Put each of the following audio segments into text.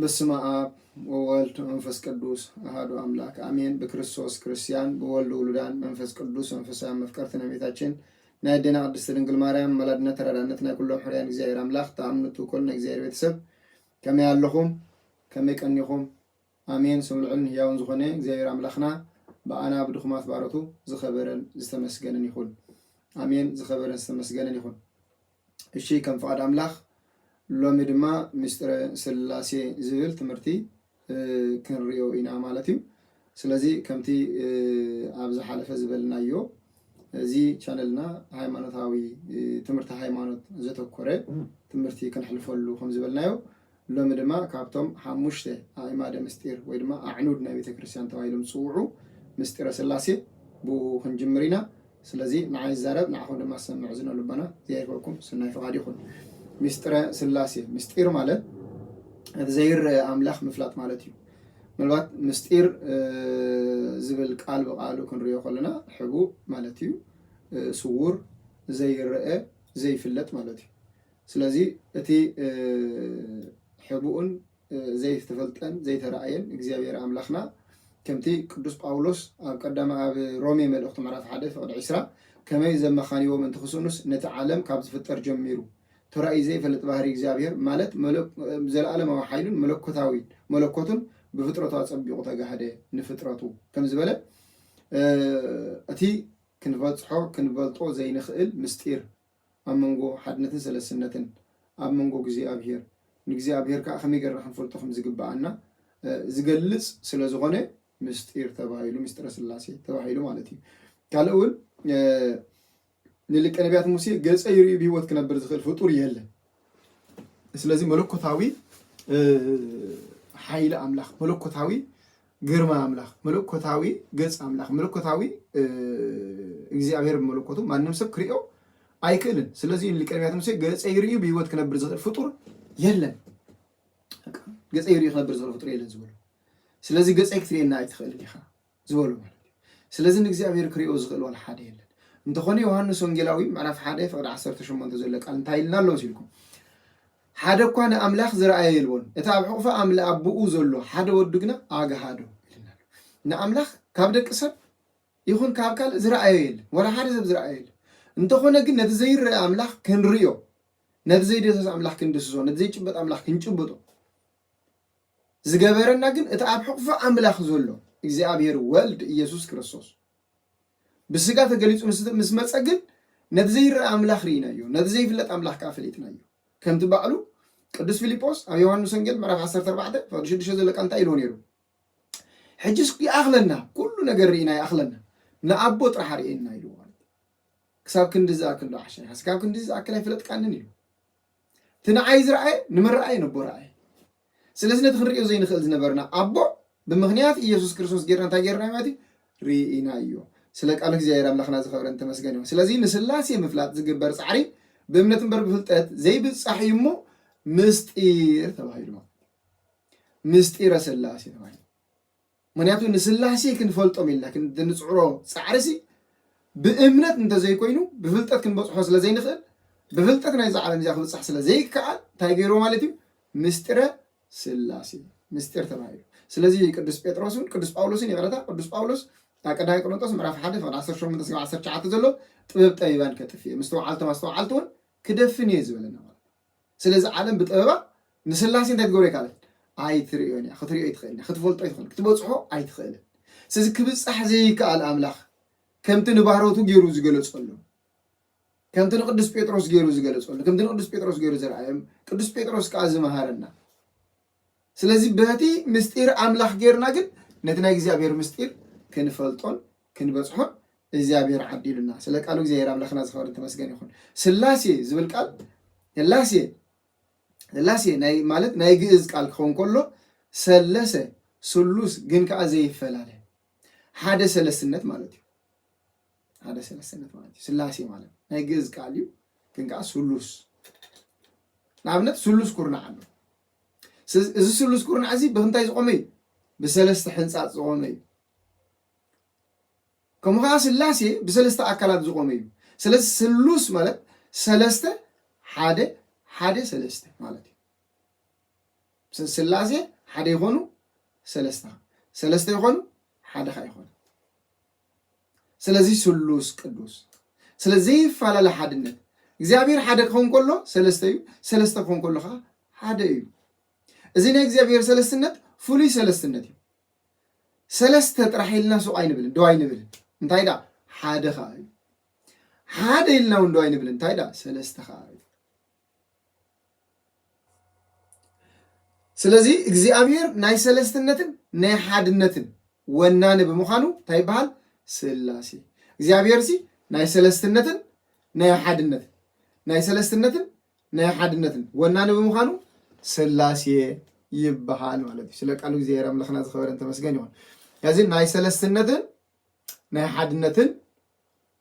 በስመ ኣብ ወወልድ መንፈስ ቅዱስ አሐዱ አምላክ አሜን። ብክርስቶስ ክርስቲያን ብወልድ ውሉዳን መንፈስ ቅዱስ መንፈሳውያን መፍቀርቲ ናይ እመቤታችን ናይ ኣዴና ቅድስት ድንግል ማርያም መላድነት ተራዳነት ናይ ኩሎም ሕርያን እግዚኣብሔር ኣምላክ ተኣምንቱ ኮል ናይ እግዚኣብሔር ቤተሰብ ከመይ ኣለኹም ከመይ ቀኒኹም ኣሜን። ስምልዑን ህያውን ዝኾነ እግዚኣብሔር ኣምላኽና ብኣና ብድኹማት ባሮቱ ዝኸበረን ዝተመስገነን ይኹን። ኣሜን። ዝኸበረን ዝተመስገነን ይኹን። እሺ ከም ፍቃድ ኣምላኽ ሎሚ ድማ ምስጢረ ስላሴ ዝብል ትምህርቲ ክንሪኦ ኢና ማለት እዩ። ስለዚ ከምቲ ኣብ ዝሓለፈ ዝበልናዮ እዚ ቻነልና ሃይማኖታዊ ትምህርቲ ሃይማኖት ዘተኮረ ትምህርቲ ክንሕልፈሉ ከም ዝበልናዮ ሎሚ ድማ ካብቶም ሓሙሽተ ኣዕማደ ምስጢር ወይ ድማ ኣዕኑድ ናይ ቤተ ክርስቲያን ተባሂሎም ዝጽውዑ ምስጢረ ሥላሴ ብእኡ ክንጅምር ኢና። ስለዚ ንዓይ ዝዛረብ ንዓኹም ድማ ዝሰምዕ እዝነ ልቦና ይሃይፈኩም ሥናይ ፍቓድ ይኹን። ምስጢረ ሥላሴ ምስጢር ማለት እቲ ዘይረኣ ኣምላኽ ምፍላጥ ማለት እዩ። ምናልባት ምስጢር ዝብል ቃል ብቃሉ ክንርእዮ ከሎና ሕቡእ ማለት እዩ። ስዉር፣ ዘይረኣ፣ ዘይፍለጥ ማለት እዩ። ስለዚ እቲ ሕቡእን ዘይተፈልጠን ዘይተራእየን እግዚኣብሔር ኣምላኽና ከምቲ ቅዱስ ጳውሎስ ኣብ ቀዳማ ኣብ ሮሜ መልእኽቱ ምዕራፍ ሓደ ፍቕዲ ዒስራ ከመይ ዘመኻንይዎ ምእንቲ ክስእኑስ ነቲ ዓለም ካብ ዝፍጠር ጀሚሩ ተራእዩ ዘይፈልጥ ባህሪ እግዚኣብሔር ማለት ዘለዓለማዊ ሓይሉን መለኮታዊ መለኮቱን ብፍጥረቱ ኣጸቢቑ ተጋህደ ንፍጥረቱ ከም ዝበለ እቲ ክንበጽሖ ክንበልጦ ዘይንኽእል ምስጢር ኣብ መንጎ ሓድነትን ሰለስትነትን ኣብ መንጎ እግዚኣኣብሄር ንእግዚኣብሄር ከኣ ከመይ ጌርና ክንፈልጦ ከም ዝግብኣና ዝገልጽ ስለ ዝኾነ ምስጢር ተባሂሉ ምስጢረ ስላሴ ተባሂሉ ማለት እዩ። ካልእ እውን ንልቀ ነቢያት ሙሴ ገጸ ይርእዩ ብህይወት ክነብር ዝኽእል ፍጡር የለን ስለዚ መለኮታዊ ሓይሊ ኣምላኽ፣ መለኮታዊ ግርማ ኣምላኽ፣ መለኮታዊ ገጽ ኣምላኽ፣ መለኮታዊ እግዚኣብሔር መለኮቱ ማንም ሰብ ክሪኦ ኣይክእልን። ስለዚ ሊቀ ነቢያት ሙሴ ገጸ ይርእዩ ብህይወት ክነብር ዝኽእል ፍጡር የለን፣ ገጸ ይርእዩ ክነብር ዝኽእል ፍጡር የለን ዝበሉ። ስለዚ ገጸይ ክትርእየና ኣይትኽእልን ኢኻ ዝበሎ ማለት እዩ። ስለዚ ንእግዚኣብሔር ክሪኦ ዝኽእል ዋላ ሓደ የለን። እንተኾነ ዮሃንስ ወንጌላዊ ምዕራፍ ሓደ ፍቕዲ ዓሰርተ ሸሞንተ ዘሎ ቃል እንታይ ኢልና ኣሎ መሲልኩም? ሓደ እኳ ንኣምላኽ ዝረኣየ የልቦን፣ እቲ ኣብ ሕቑፊ ኣምል ኣቦኡ ዘሎ ሓደ ወዱ ግና ኣግሃዶ ኢልና ኣሎ። ንኣምላኽ ካብ ደቂ ሰብ ይኹን ካብ ካልእ ዝረኣዮ የለን፣ ዋላ ሓደ ሰብ ዝረኣዮ የለን። እንተኾነ ግን ነቲ ዘይረአ ኣምላኽ ክንርእዮ፣ ነቲ ዘይደሰስ ኣምላኽ ክንድስሶ፣ ነቲ ዘይጭበጥ ኣምላኽ ክንጭብጦ ዝገበረና ግን እቲ ኣብ ሕቕፎ ኣምላኽ ዘሎ እግዚኣብሔር ወልድ ኢየሱስ ክርስቶስ ብስጋ ተገሊጹ ምስ መጸ ግን ነቲ ዘይረኣ ኣምላኽ ርኢናዮ፣ ነቲ ዘይፍለጥ ኣምላኽ ከኣ ፈሊጥናዮ። ከምቲ ባዕሉ ቅዱስ ፊልጶስ ኣብ ዮሐንስ ወንጌል ምዕራፍ 14 ፍቕዲ ሽዱሽተ ዘሎ ቃል እንታይ ኢልዎ ነይሩ? ሕጅስ ይኣኽለና፣ ኩሉ ነገር ርኢና ይኣኽለና፣ ንኣቦ ጥራሕ ኣርእየና ኢልዎ። ክሳብ ክንድዚ ዝኣክል ዶ ዓሻ ኢኻ? ክሳብ ክንድዚ ዝኣክል ኣይፈለጥካንን ኢሉ። እቲ ንዓይ ዝረኣየ ንመረኣየ ነቦ ረኣየ። ስለዚ ነቲ ክንርእዮ ዘይንኽእል ዝነበርና ኣቦ ብምኽንያት ኢየሱስ ክርስቶስ ጌርና እንታይ ጌርናዮ ማለት እዩ? ርኢናዮ። ስለ ቃል እግዚኣብሔር ኣምላኽና ዝኸብረን ተመስገን ይኹን። ስለዚ ንስላሴ ምፍላጥ ዝግበር ጻዕሪ ብእምነት እምበር ብፍልጠት ዘይብጻሕ እዩ እሞ ምስጢር ተባሂሉ ማለት ምስጢረ ስላሴ ተባሂሉ ምኽንያቱ ንስላሴ ክንፈልጦም ኢልና ክንድንጽዕሮ ጻዕሪ'ሲ ብእምነት እንተዘይኮይኑ ብፍልጠት ክንበጽሖ ስለዘይንኽእል ብፍልጠት ናይዛ ዓለም እዚኣ ክብጻሕ ስለዘይከኣል እንታይ ገይርዎ ማለት እዩ ምስጢረ ስላሴ ምስጢር ተባሂሉ ስለዚ ቅዱስ ጴጥሮስን ቅዱስ ጳውሎስን ይቕረታ ቅዱስ ጳውሎስ ኣብ ቀዳማይ ቆሮንጦስ ምዕራፍ ሓደ ፍቕዲ 18 ክሳብ 19 ዘሎ ጥበብ ጠቢባን ከጥፍእ እየ ምስተውዓልቶም ኣስተውዓልቲ እውን ክደፍን እየ ዝበለና ማለት ስለዚ ዓለም ብጥበባ ንስላሴ እንታይ ክትገብሮ ኣይከኣለትን ኣይትርእዮን እያ ክትሪኦ ኣይትኽእልን ክትፈልጦ ኣይትኽእልን ክትበፅሖ ኣይትኽእልን ስለዚ ክብፃሕ ዘይከኣል ኣምላኽ ከምቲ ንባሮቱ ገይሩ ዝገለፀሉ ከምቲ ንቅዱስ ጴጥሮስ ገይሩ ዝገለፀሉ ከምቲ ንቅዱስ ጴጥሮስ ገይሩ ዘርኣዮም ቅዱስ ጴጥሮስ ከዓ ዝመሃረና ስለዚ በቲ ምስጢር ኣምላኽ ጌርና ግን ነቲ ናይ እግዚኣብሔር ምስጢር ክንፈልጦን ክንበጽሖን እግዚኣብሔር ዓዲሉና። ስለ ቃሉ እግዚኣብሔር ኣምላኽና ዝኸበርን ተመስገን ይኹን። ስላሴ ዝብል ቃል ስላሴ ስላሴ ናይ ማለት ናይ ግእዝ ቃል ክኸውን ከሎ ሰለሰ ስሉስ ግን ከኣ ዘይፈላለ ሓደ ሰለስነት ማለት እዩ። ሓደ ሰለስተነት ማለት እዩ ስላሴ ማለት ናይ ግእዝ ቃል እዩ ግን ከዓ ስሉስ ንኣብነት ስሉስ ኩርናዕ ኣሎ እዚ ስሉስ ኩርናዕ እዚ ብምንታይ ዝቆመ እዩ ብሰለስተ ሕንፃፅ ዝቆመ እዩ ከምኡ ከዓ ስላሴ ብሰለስተ ኣካላት ዝቆመ እዩ ስለዚ ስሉስ ማለት ሰለስተ ሓደ ሓደ ሰለስተ ማለት እዩ ስላሴ ሓደ ይኮኑ ሰለስተ ሰለስተ ይኮኑ ሓደካ ይኮኑ ስለዚ ስሉስ ቅዱስ ስለ ዘይፈላለ ሓድነት እግዚኣብሔር ሓደ ክኸውን ከሎ ሰለስተ እዩ፣ ሰለስተ ክኸውን ከሎ ከዓ ሓደ እዩ። እዚ ናይ እግዚኣብሔር ሰለስትነት ፍሉይ ሰለስትነት እዩ። ሰለስተ ጥራሕ ኢልና ሱቅ ኣይንብልን፣ ደው ኣይንብልን። እንታይ ደኣ ሓደ ከዓ እዩ። ሓደ ኢልና እውን ደው ኣይንብልን። እንታይ ደኣ ሰለስተ ከዓ እዩ። ስለዚ እግዚኣብሔር ናይ ሰለስትነትን ናይ ሓድነትን ወናኒ ብምዃኑ እንታይ ይበሃል? ስላሴ። እግዚኣብሔር ሲ ናይ ሰለስትነትን ናይ ሓድነትን ናይ ሰለስትነትን ናይ ሓድነትን ወናኒ ብምዃኑ ስላሴ ይበሃል ማለት እዩ። ስለ ቃሉ እግዚኣብሔር ኣምላኽና ዝኸበረን ተመስገን ይኹን። እዚ ናይ ሰለስትነትን ናይ ሓድነትን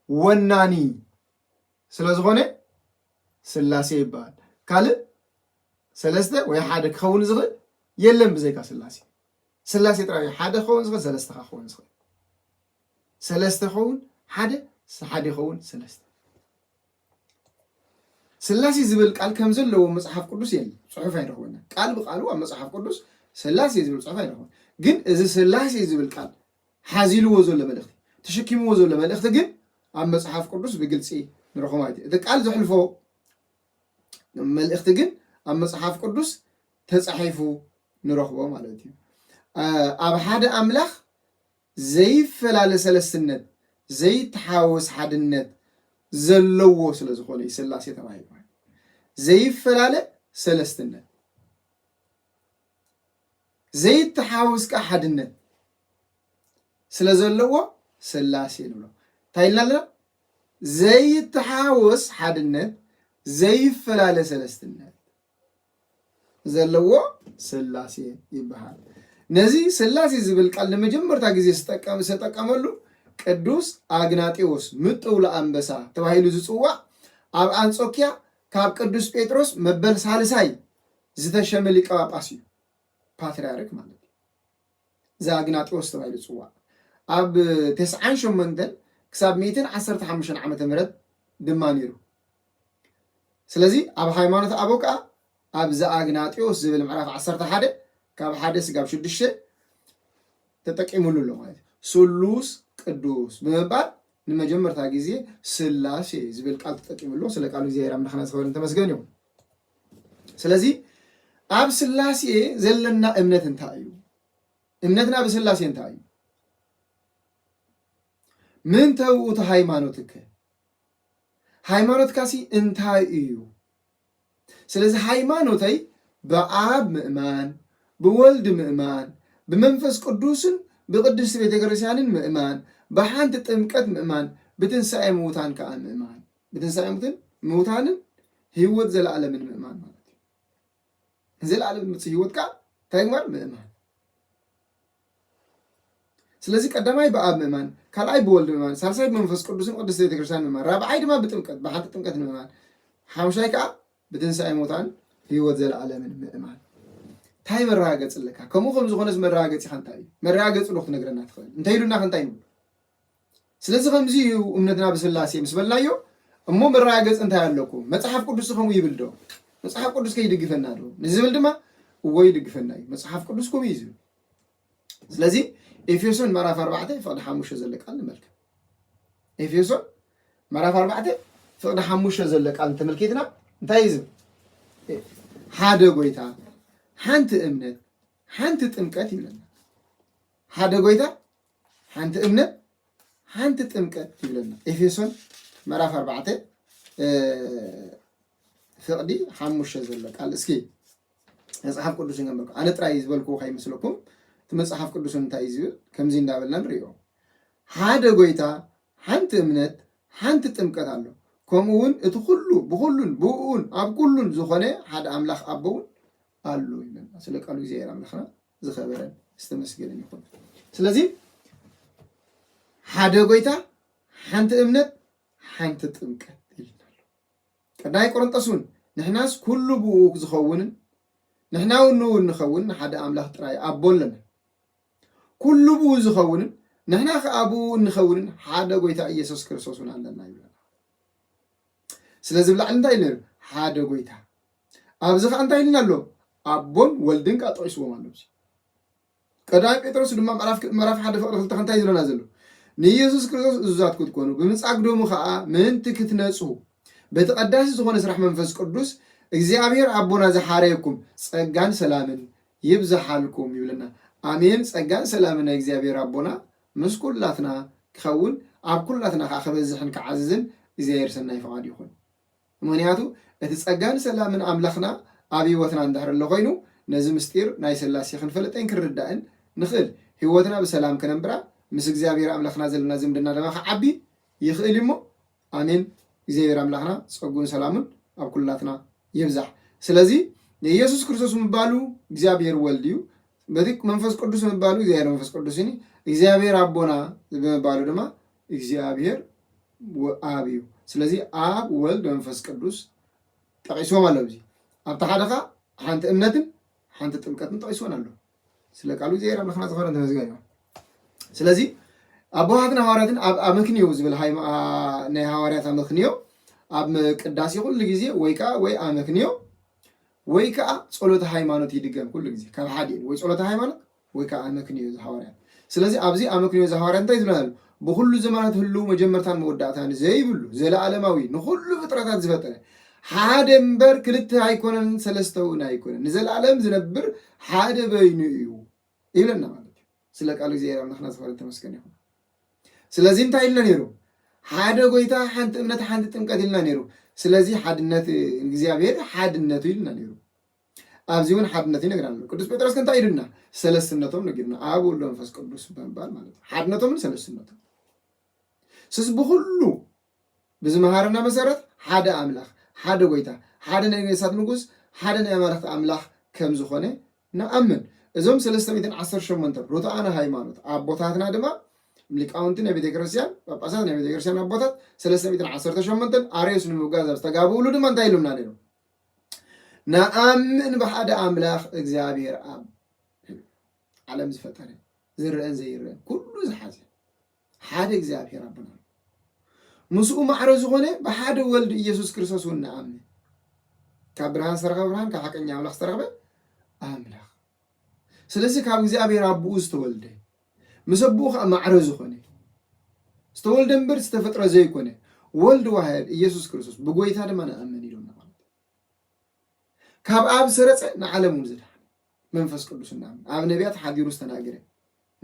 ወናኒ ስለ ዝኾነ ስላሴ ይበሃል። ካልእ ሰለስተ ወይ ሓደ ክኸውን ዝኽእል የለን ብዘይካ ስላሴ። ስላሴ ጥራይ እዩ ሓደ ክኸውን ዝኽእል ሰለስተ ከ ክኸውን ዝኽእል። ሰለስተ ክኸውን ሓደ ሓደ ይኸውን ሰለስተ። ስላሴ ዝብል ቃል ከም ዘለዎ መጽሓፍ ቅዱስ የለን፣ ጽሑፍ ኣይረኽበና። ቃል ብቃሉ ኣብ መጽሓፍ ቅዱስ ስላሴ ዝብል ጽሑፍ ኣይረኽበን። ግን እዚ ስላሴ ዝብል ቃል ሓዚልዎ ዘሎ መልእኽቲ፣ ተሸኪምዎ ዘሎ መልእኽቲ ግን ኣብ መጽሓፍ ቅዱስ ብግልጺ ንረኽቦ ኣይት እቲ ቃል ዘሕልፎ መልእኽቲ ግን ኣብ መጽሓፍ ቅዱስ ተጻሒፉ ንረኽቦ ማለት እዩ። ኣብ ሓደ ኣምላኽ ዘይፈላለ ሰለስትነት፣ ዘይተሓዋወስ ሓድነት ዘለዎ ስለ ዝኾነ እዩ ስላሴ ተባሂሉ ዘይፈላለ ሰለስትነት ዘይተሓዋውስ ከኣ ሓድነት ስለ ዘለዎ ስላሴ ንብሎ እንታይ ኢልና ኣለና ዘይተሓዋወስ ሓድነት ዘይፈላለ ሰለስትነት ዘለዎ ስላሴ ይበሃል ነዚ ስላሴ ዝብል ቃል ንመጀመርታ ግዜ ዝተጠቀመሉ ቅዱስ ኣግናጤዎስ ምጥውሎ ኣንበሳ ተባሂሉ ዝፅዋዕ ኣብ ኣንጾኪያ ካብ ቅዱስ ጴጥሮስ መበል ሳልሳይ ዝተሸመ ሊቀ ጳጳስ እዩ፣ ፓትርያርክ ማለት እዩ። ዘኣግናጢዎስ ተባሂሉ ዝጽዋዕ ኣብ ተስዓን ሸሞንተን ክሳብ ሚእትን ዓሰርተ ሓሙሽተን ዓመተ ምህረት ድማ ነይሩ። ስለዚ ኣብ ሃይማኖት ኣበው ከዓ ኣብ ዘኣግናጢዎስ ዝብል ምዕራፍ ዓሰርተ ሓደ ካብ ሓደ ስጋብ ሽዱሽተ ተጠቂሙሉ ኣሎ ማለት እዩ። ስሉስ ቅዱስ ብምባል ንመጀመርታ ግዜ ስላሴ ዝብል ቃል ተጠቂሙሉ። ስለ ቃሉ እግዚኣብሔር ኣምላኽና ዝኸበረን ተመስገን እዩ። ስለዚ ኣብ ስላሴ ዘለና እምነት እንታይ እዩ? እምነትና ብስላሴ እንታይ እዩ? ምንተ ውእቱ ሃይማኖትከ ሃይማኖትካሲ እንታይ እዩ? ስለዚ ሃይማኖተይ ብኣብ ምእማን፣ ብወልድ ምእማን፣ ብመንፈስ ቅዱስን ብቅድስቲ ቤተ ክርስቲያንን ምእማን፣ ብሓንቲ ጥምቀት ምእማን፣ ብትንሣኤ ምውታን ከዓ ምእማን ብትንሳኤ ሙትን ምውታንን ህይወት ዘለኣለምን ምእማን ማለት እዩ። ንዘለኣለም ዝመፅእ ህይወት ከዓ እንታይ ምግባር ምእማን። ስለዚ ቀዳማይ ብኣብ ምእማን፣ ካልኣይ ብወልድ ምእማን፣ ሳልሳይ ብመንፈስ ቅዱስን ቅድስት ቤተክርስትያን ምእማን፣ ራብዓይ ድማ ብጥምቀት ብሓንቲ ጥምቀት ምእማን፣ ሓምሻይ ከዓ ብትንሳኤ ሙታን ህይወት ዘለኣለምን ምእማን። እንታይ መረጋገፂ ኣለካ? ከምኡ ከም ዝኾነስ መረጋገፂኻ እንታይ እዩ? መረጋገፂ ዶ ክትነግረና ትኽእል? እንተይሉና ከ እንታይ ንብሎ? ስለዚ ከምዚ እዩ እምነትና ብስላሴ ምስ በልናዮ እሞ መረጋገፂ እንታይ ኣለኩም መፅሓፍ ቅዱስ ከምኡ ይብል ዶ መፅሓፍ ቅዱስ ከይድግፈና ዶ ንዝብል ድማ እዎ ይድግፈና እዩ መፅሓፍ ቅዱስ ከምኡ እዩ ዝብል ስለዚ ኤፌሶን ምዕራፍ ኣርባዕተ ፍቅዲ ሓሙሽተ ዘሎ ቃል ንመልከት ኤፌሶን ምዕራፍ ኣርባዕተ ፍቅዲ ሓሙሽተ ዘሎ ቃል እንተመልኪትና እንታይ እዩ ዝብል ሓደ ጎይታ ሓንቲ እምነት ሓንቲ ጥምቀት ይብለና ሓደ ጎይታ ሓንቲ እምነት ሓንቲ ጥምቀት ይብለና ኤፌሶን ምዕራፍ ኣርባዕተ ፍቕዲ ሓሙሽተ ዘሎ ቃል እስኪ መፅሓፍ ቅዱስ ንገምበልኩ ኣነ ጥራይ ዝበልኩ ከይመስለኩም እቲ መፅሓፍ ቅዱስ እንታይ እዩ ዝብል ከምዚ እንዳበልና ንሪኦ ሓደ ጎይታ ሓንቲ እምነት ሓንቲ ጥምቀት ኣሎ ከምኡ እውን እቲ ኩሉ ብኩሉን ብእኡን ኣብ ኩሉን ዝኾነ ሓደ ኣምላኽ ኣቦውን ኣሎ ይብለና ስለ ቃሉ እግዚኣብሔር ኣምላኽና ዝኸበረን ዝተመስገነን ይኹን። ስለዚ ሓደ ጎይታ፣ ሓንቲ እምነት፣ ሓንቲ ጥምቀት ኢልና ኣሎ። ቀዳማይ ቆሮንጦስ እውን ንሕናስ ኩሉ ብኡ ዝኸውንን ንሕና እውን ንኡ ንኸውን ንሓደ ኣምላኽ ጥራይ ኣቦ ኣለና። ኩሉ ብኡ ዝኸውንን ንሕና ከዓ ብኡ እንኸውንን ሓደ ጎይታ ኢየሱስ ክርስቶስ እውን ኣለና ይብለና። ስለዚ ብላዕሊ እንታይ ኢሉ ነይሩ? ሓደ ጎይታ፣ ኣብዚ ከኣ እንታይ ኢልና ኣሎ ኣቦን ወልድን ከኣ ጠቂስዎም ኣሎ እዚ ቀዳማይ ጴጥሮስ ድማ ምዕራፍ ምዕራፍ ሓደ ፍቅሪ ክልተ እንታይ ዝብለና ዘሎ ንኢየሱስ ክርስቶስ እዙዛት ክትኮኑ ብምጻግ ደሙ ከኣ ምእንቲ ክትነጹ በቲ ቀዳሲ ዝኾነ ስራሕ መንፈስ ቅዱስ እግዚኣብሔር ኣቦና ዝሓረየኩም ጸጋን ሰላምን ይብዛሓልኩም ይብለና። ኣሜን። ጸጋን ሰላምን ናይ እግዚኣብሔር ኣቦና ምስ ኩላትና ክኸውን ኣብ ኩላትና ከዓ ክበዝሕን ክዓዝዝን እግዚኣብሔር ሰናይ ፍቃድ ይኹን። ምኽንያቱ እቲ ጸጋን ሰላምን ኣምላኽና ኣብ ህይወትና እንድሕር ኣሎ ኮይኑ ነዚ ምስጢር ናይ ስላሴ ክንፈልጠይን ክንርዳእን ንኽእል ህይወትና ብሰላም ክነንብራ ምስ እግዚኣብሔር ኣምላኽና ዘለና ዝምድና ድማ ክዓቢ ይኽእል እዩ እሞ ኣሜን እግዚኣብሔር ኣምላኽና ጸጉን ሰላሙን ኣብ ኩላትና ይብዛሕ ስለዚ የኢየሱስ ክርስቶስ ምባሉ እግዚኣብሔር ወልድ እዩ በቲ መንፈስ ቅዱስ ምባሉ እግዚኣብሔር መንፈስ ቅዱስን እዩ እግዚኣብሔር ኣቦና ብምባሉ ድማ እግዚኣብሔር ወኣብ እዩ ስለዚ ኣብ ወልድ መንፈስ ቅዱስ ጠቂስዎም ኣሎ እዚ ኣብቲ ሓደ ከ ሓንቲ እምነትን ሓንቲ ጥምቀትን ጠቂስዎን ኣሎ ስለ ቃሉ እግዚኣብሔር ኣምላኽና ዝኸበረን ተመስገን እዩ ስለዚ ኣቦሃትን ሃዋርያትን ኣብ ኣመክንዮ ዝብል ናይ ሃዋርያት ኣመክንዮ ኣብ ቅዳሴ ኩሉ ግዜ ወይ ከዓ ወይ ኣመክንዮ ወይ ከዓ ፀሎተ ሃይማኖት ይድገም ኩሉ ግዜ ካብ ሓደ ወይ ፀሎተ ሃይማኖት ወይ ከዓ ኣመክንዮ ዘሃዋርያት። ስለዚ ኣብዚ ኣመክንዮ ዘሃዋርያት እንታይ ዝብለና ኣሎ? ብኹሉ ዘመናት ህልው መጀመርታን መወዳእታን ዘይብሉ ዘለኣለማዊ ንኹሉ ፍጥረታት ዝፈጠረ ሓደ እምበር ክልተ ኣይኮነን ሰለስተ እውን ኣይኮነን ንዘለኣለም ዝነብር ሓደ በይኑ እዩ ይብለና ማለት እዩ። ስለ ቃሉ እግዚኣብሔር ኣምላኽና ዝኸበረ ተመስገን ይኹን። ስለዚ እንታይ ኢልና ነይሩ? ሓደ ጎይታ፣ ሓንቲ እምነት፣ ሓንቲ ጥምቀት ኢልና ነይሩ። ስለዚ ሓድነት እግዚኣብሔር ሓድነቱ ኢልና ነይሩ። ኣብዚ እውን ሓድነት ይነግረና ኣሎ። ቅዱስ ጴጥሮስ ግን እንታይ ኢሉና? ሰለስትነቶም ነጊሩና፣ ኣብ ወልድ መንፈስ ቅዱስ ብምባል ማለት እዩ። ሓድነቶምን ሰለስትነቶም ስስ ብኩሉ ብዝመሃረና መሰረት ሓደ ኣምላኽ፣ ሓደ ጎይታ፣ ሓደ ናይ ነገስታት ንጉስ፣ ሓደ ናይ ኣማልኽቲ ኣምላኽ ከም ዝኾነ ንኣምን። እዞም ሰለስተ ሚእትን ዓሰርተ ሸሞንተ ርቱዓነ ሃይማኖት ኣቦታትና ድማ ሊቃውንቲ ናይ ቤተ ክርስቲያን ጳጳሳት ናይ ቤተ ክርስቲያን ኣቦታት ሰለስተ ሚእትን ዓሰርተ ሸሞንተን ኣርዮስ ንምብጋዝ ኣብ ዝተጋብእሉ ድማ እንታይ ኢሎምና ነይሮም? ንኣምን ብሓደ ኣምላኽ እግዚኣብሔር ኣብ ዓለም ዝፈጠረ ዝረአን ዘይረአን ኩሉ ዝሓዘ ሓደ እግዚኣብሔር ኣቦና ምስኡ ማዕረ ዝኾነ ብሓደ ወልድ ኢየሱስ ክርስቶስ እውን ንኣምን ካብ ብርሃን ዝተረኸበ ብርሃን ካብ ሓቀኛ ኣምላኽ ዝተረኸበ ኣምላኽ ስለዚ ካብ እግዚኣብሔር ኣቦኡ ዝተወልደ ምስ ኣቦኡ ከኣ ማዕረ ዝኾነ ዝተወልደ እምበር ዝተፈጥረ ዘይኮነ ወልድ ዋህድ ኢየሱስ ክርስቶስ ብጎይታ ድማ ንኣምን ኢሎምና ማለት እዩ። ካብ ኣብ ሰረጸ ንዓለም እውን ዘድሓነ መንፈስ ቅዱስ እናምን ኣብ ነቢያት ሓዲሩ ዝተናገረ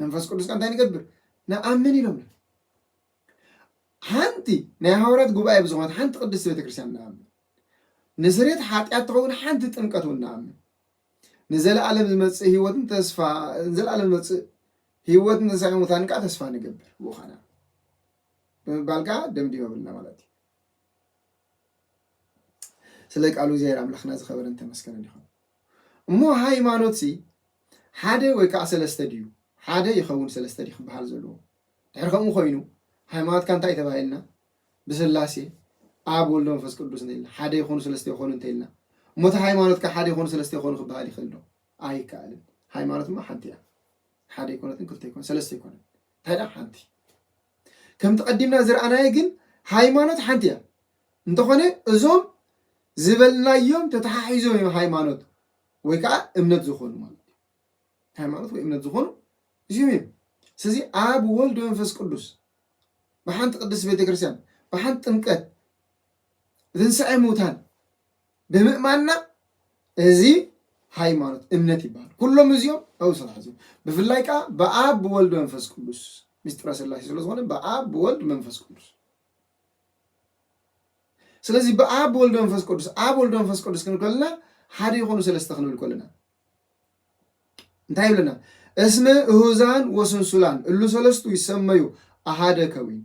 መንፈስ ቅዱስ ከ እንታይ ንገብር ንኣምን ኢሎምና ሓንቲ ናይ ሃዋርያት ጉባኤ ብዝኾነት ሓንቲ ቅድስቲ ቤተክርስትያን ንኣምን ንስሬት ሓጢኣት ትኸውን ሓንቲ ጥምቀት እውን ንኣምን ንዘለኣለም ዝመጽእ ህይወትን ተስፋ ንዘለኣለም ዝመጽእ ህይወትን ትንሳኤ ሙታንን ከዓ ተስፋ ንገብር ብኡ ኸና ብምባል ከዓ ደምዲመብልና ማለት እዩ ስለ ቃሉ እግዚኣብሔር ኣምላኽና ዝኸበረን ተመስገነን ይኹን እሞ ሃይማኖት ሲ ሓደ ወይ ከዓ ሰለስተ ድዩ ሓደ ይኸውን ሰለስተ ድዩ ክበሃል ዘለዎ ድሕር ከምኡ ኮይኑ ሃይማኖትካ እንታይ ተባሂልና ብስላሴ ኣብ ወልድ መንፈስ ቅዱስ እንተኢልና ሓደ ይኾኑ ሰለስተ ይኾኑ እንተኢልና እሞ እቲ ሃይማኖት ከ ሓደ ይኾኑ ሰለስተ ይኾኑ ክበሃል ይኽእል ዶ? ኣይከኣልን። ሃይማኖት እሞ ሓንቲ እያ። ሓደ ይኮነትን ክልተ ይኮነ ሰለስተ ይኮነን እንታይ ደኣ ሓንቲ ከምቲ ቀዲምና ዝረኣናየ ግን ሃይማኖት ሓንቲ እያ እንተኾነ እዞም ዝበልናዮም ተተሓሒዞም እዮም ሃይማኖት ወይ ከዓ እምነት ዝኾኑ ማለት እዩ ሃይማኖት ወይ እምነት ዝኾኑ እዚኦም እዮም ስለዚ ኣብ ወልድ መንፈስ ቅዱስ ብሓንቲ ቅድስት ቤተ ክርስቲያን ብሓንቲ ጥምቀት ትንሣኤ ሙታን ብምእማንና እዚ ሃይማኖት እምነት ይበሃል። ኩሎም እዚኦም ኣብኡ ስራሕ እዚኦም ብፍላይ ከዓ ብኣብ ብወልድ መንፈስ ቅዱስ ምስጢረ ስላሴ ስለዝኾነ ብኣብ ብወልድ መንፈስ ቅዱስ ስለዚ ብኣብ ብወልድ መንፈስ ቅዱስ ኣብ ወልድ መንፈስ ቅዱስ ክንብል ከለና ሓደ ይኾኑ ሰለስተ ክንብል ከለና እንታይ ይብለና? እስመ እሁዛን ወስንሱላን እሉ ሰለስቱ ይሰመዩ ኣሃደ ከዊን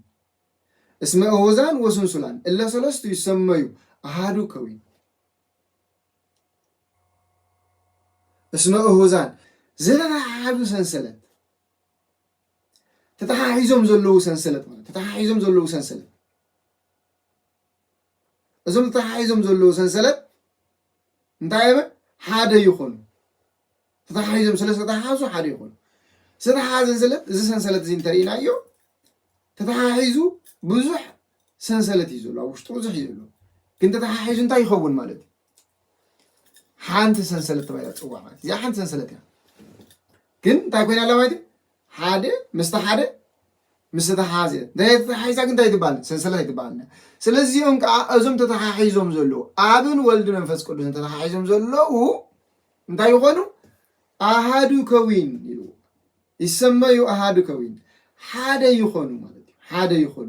እስመ እሁዛን ወስንሱላን እለ ሰለስቱ ይሰመዩ ኣሃዱ ከዊን እስመ እሁዛን ዝተተሓሓዙ ሰንሰለት ተተሓሒዞም ዘለዉ ሰንሰለት ማለት ተተሓሒዞም ዘለዉ ሰንሰለት እዞም ተተሓሒዞም ዘለዉ ሰንሰለት እንታይ እየ በል ሓደ ይኾኑ ተተሓሒዞም ስለ ዝተተሓሓዙ ሓደ ይኾኑ ዝተተሓሓዘ ሰንሰለት እዚ ሰንሰለት እዚ እንተርኢናዮ ተተሓሒዙ ብዙሕ ሰንሰለት እዩ ዘሎ ኣብ ውሽጡ ብዙሕ እዩ ዘሎ ግን ተተሓሒዙ እንታይ ይኸውን ማለት እዩ ሓንቲ ሰንሰለት ተባሂላ ትፅዋዕ ማለት እዚኣ ሓንቲ ሰንሰለት እያ ግን እንታይ ኮይና ኣላ ማለት እዩ ሓደ ምስቲ ሓደ ምስ ተተሓሓዘ ናይ ተተሓሒዛ ግን እንታይ ትበሃል ሰንሰለት ኣይትበሃል ስለዚ እዚኦም ከዓ እዞም ተተሓሒዞም ዘለዉ ኣብን ወልድ መንፈስ ቅዱስን ተተሓሒዞም ዘለዉ እንታይ ይኾኑ ኣሃዱ ከዊን ይብሉ ይሰመዩ ኣሃዱ ከዊን ሓደ ይኾኑ ማለት እዩ ሓደ ይኾኑ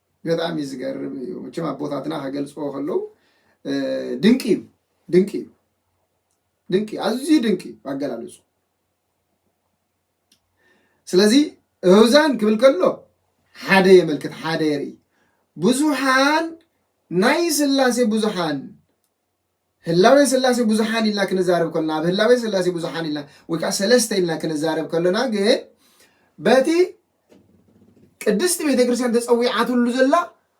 በጣም እዩ ዝገርም እዩ መቸም ኣቦታትና ከገልፅዎ ከለዉ ድንቂ እዩ ድንቂ እዩ ድንቂ ኣዝዩ ድንቂ እዩ ኣገላልፁ ስለዚ እህዛን ክብል ከሎ ሓደ የመልክት ሓደ የርኢ ብዙሓን ናይ ስላሴ ብዙሓን ህላዌ ሥላሴ ብዙኃን ኢልና ክንዛረብ ከሎና ኣብ ህላዌ ሥላሴ ብዙኃን ኢልና ወይ ከዓ ሰለስተ ኢልና ክንዛረብ ከሎና ግን በቲ ቅድስቲ ቤተ ክርስቲያን ተጸዊዓትሉ ዘላ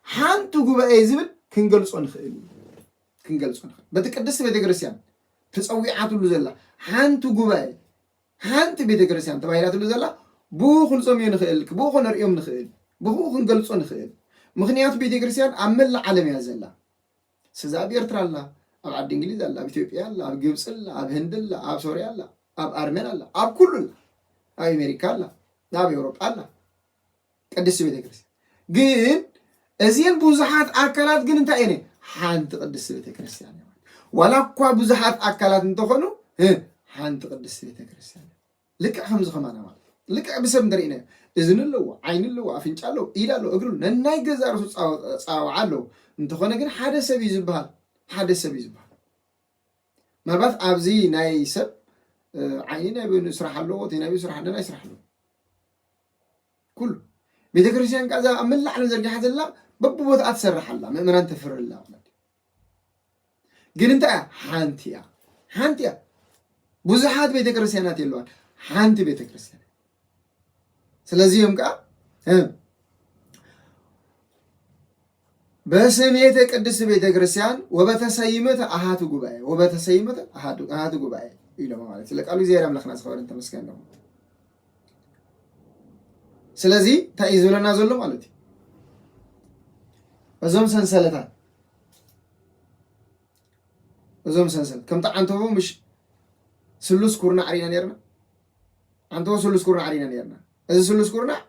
ሓንቲ ጉባኤ ዝብል ክንገልጾ ንኽእል ክንገልጾ ንኽእል በቲ ቅድስቲ ቤተ ክርስቲያን ተጸዊዓትሉ ዘላ ሓንቲ ጉባኤ ሓንቲ ቤተ ክርስቲያን ተባሂላትሉ ዘላ ብኡ ክንጾምዮ ንኽእል ብኡ ክንርእዮም ንኽእል ብኡ ክንገልጾ ንኽእል ምክንያቱ ቤተ ክርስቲያን ኣብ መላእ ዓለም እያ ዘላ ስዚ ኣብ ኤርትራ ኣላ ኣብ ዓዲ እንግሊዝ ኣላ ኣብ ኢትዮጵያ ኣላ ኣብ ግብጺ ኣላ ኣብ ህንዲ ኣላ ኣብ ሶርያ ኣላ ኣብ ኣርመን ኣላ ኣብ ኩሉ ኣላ ኣብ ኣሜሪካ ኣላ ኣብ ኤውሮጳ ኣላ ቅድስቲ ቤተ ክርስቲያን ግን እዚን ብዙሓት ኣካላት ግን እንታይ እየን ሓንቲ ቅድስቲ ቤተ ክርስቲያን ዋላ እኳ ብዙሓት ኣካላት እንተኾኑ ሓንቲ ቅድስቲ ቤተ ክርስቲያን ልክዕ ከምዚ ከማና ማለት እዩ። ልክዕ ብሰብ እንተሪእናዮ እዝኒ ኣለዎ፣ ዓይኒ ኣለዎ፣ ኣፍንጫ ኣለዎ፣ ኢድ ኣለዎ፣ እግሪ ኣለዎ፣ ነናይ ገዛእ ርእሱ ኣጸዋውዓ ኣለዎ። እንተኾነ ግን ሓደ ሰብ እዩ ዝበሃል፣ ሓደ ሰብ እዩ ዝበሃል። ምናልባት ኣብዚ ናይ ሰብ ዓይኒ ናይ በይኑ ስራሕ ኣለዎ፣ እቲ ናይ በይኑ ስራሕ ነናይ ስራሕ ኣለዎ ኩሉ ቤተ ክርስቲያን ከዛ ኣብ መላእ ዓለም ዘርጊሓ ዘላ በብቦታኣ ትሰርሕ ኣላ፣ ምእመናን ተፍሪ ኣላ ማለት እዩ። ግን እንታይ እያ? ሓንቲ እያ፣ ሓንቲ እያ። ብዙሓት ቤተ ክርስቲያናት የለዋን፣ ሓንቲ ቤተ ክርስቲያን። ስለዚህ እዮም ከዓ በስሜተ ቅድስት ቤተ ክርስቲያን ወበተሰይመት ኣሃቱ ጉባኤ ወበተሰይመት ኣሃቱ ጉባኤ ኢሎም ማለት ስለ ቃሉ እግዚኣብሔር ኣምላኽና ዝኸበረን ተመስገን ነው። ስለዚ እንታይ እዩ ዝብለና ዘሎ ማለት እዩ እዞም ሰንሰለታት እዞም ሰንሰለት ከምቲ ዓንተቦ ምሽ ስሉስ ኩርናዕ ርኢና ነርና ዓንተቦ ስሉስ ኩርናዕ ርኢና ነርና እዚ ስሉስ ኩርናዕ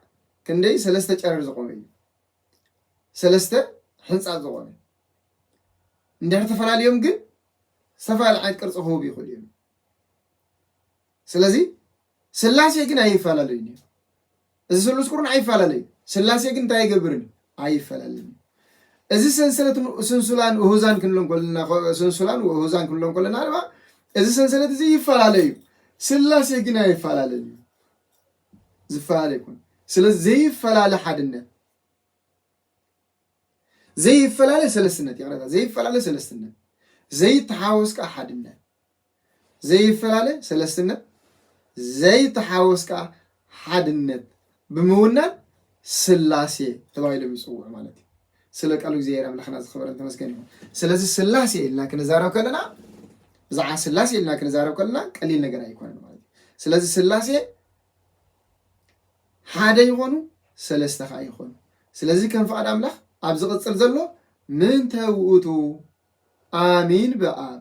ክንደይ ሰለስተ ጨረር ዝቆመ እዩ ሰለስተ ሕንፃት ዝኾነ እንድሕር ተፈላለዮም ግን ዝተፈላለዩ ዓይነት ቅርፂ ክህቡ ይኽእሉ እዮም ስለዚ ስላሴ ግን ኣይፈላለዩን እዮም። እዚ ስሉስ ቁርን ኣይፈላለዩ። ስላሴ ግን እንታይ ኣይገብርን ኣይፈላለዩን እዩ። እዚ ሰንሰለት ስንሱላን ውሁዛን ክንብሎ እንኮለና ስንሱላን ውሁዛን ክንብሎ እንኮለና ድማ እዚ ሰንሰለት እዚ ይፈላለዩ። ስላሴ ግን ኣይፈላለዩ ዝፈላለ ይኮን። ስለ ዘይፈላለ ሓድነት ዘይፈላለ ሰለስትነት ይቕረታ ዘይፈላለ ሰለስትነት ዘይተሓወስ ከዓ ሓድነት ዘይፈላለ ሰለስትነት፣ ዘይተሓወስ ከኣ ሓድነት ብምውናን ስላሴ ተባሂሎም ይጽውዑ ማለት እዩ። ስለ ቃሉ እግዚኣብሔር ኣምላኽና ዝኸበረን ተመስገን ይኹን። ስለዚ ስላሴ ኢልና ክንዛረብ ከለና ብዛዕባ ስላሴ ኢልና ክንዛረብ ከለና ቀሊል ነገር ኣይኮነን ማለት እዩ። ስለዚ ስላሴ ሓደ ይኾኑ ሰለስተ ከዓ ይኾኑ። ስለዚ ከም ፍቓድ ኣምላኽ ኣብ ዝቕፅል ዘሎ ምንተ ውእቱ ኣሚን ብኣብ